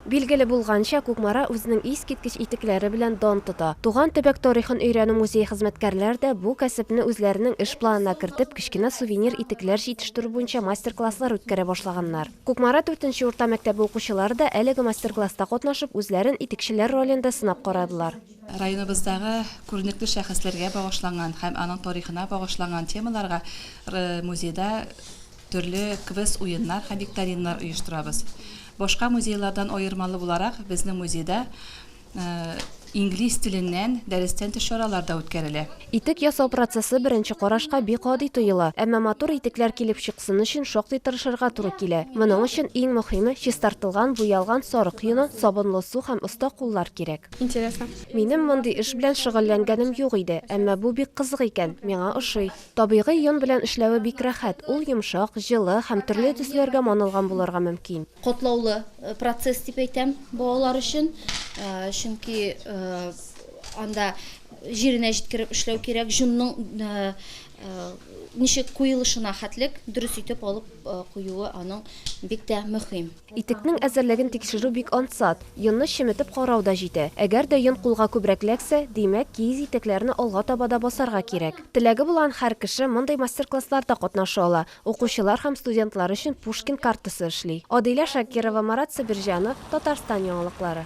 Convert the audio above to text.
Билгеле булганча, Кукмара үзенең искиткеч итекләре белән дан тота. Туган төбәк тарихын өйрәнү музее хезмәткәрләр дә бу кәсепне үзләренең эш планына кертеп, кечкенә сувенир итекләр җитештерү буенча мастер-класслар үткәрә башлаганнар. Кукмара дүртенче урта мәктәбе укучылары да әлеге мастер-класста катнашып, үзләрен итекчеләр ролендә сынап карадылар. Районыбыздагы күренекле шәхесләргә багышланган һәм аның тарихына багышланган темаларга музейда төрле квест-уеннар һәм викториннар оештырабыз. Башка музейлардан аермалы буларак, безнең музейда инглиз теленнән дәрестән тыш чаралар да үткәрелә. Итек ясау процессы беренче карашка бик гади тоела, әмма матур итекләр килеп чыксын өчен шактый тырышырга туры килә. Моның өчен иң мөһиме, чистартылган, буялган сарык йоны, сабынлы су һәм оста куллар кирәк. Интересно. Минем мондый эш белән шөгыльләнгәнем юк иде, әмма бу бик кызык икән, миңа ошый. Табигый йон белән эшләве бик рәхәт, ул йомшак, җылы һәм төрле төсләргә манылган булырга мөмкин. Катлаулы процесс дип әйтәм балалар өчен, чөнки анда җиренә җиткереп эшләү кирәк, җонның ничек куелышына хәтлек дөрес итеп алып куюы аның бик тә мөһим. Итекнең әзерлеген тикшерү бик ансат. Йонны чеметеп карау да җитә. Әгәр дә йон кулга күбрәк эләксә, димәк, киез итекләрне алга таба да басарга кирәк. Теләге булган һәр кеше мондый мастер-классларда катнаша ала. Укучылар һәм студентлар өчен Пушкин картасы эшли. Адилә Шакирова, Марат Себерҗанов, Татарстан яңалыклары.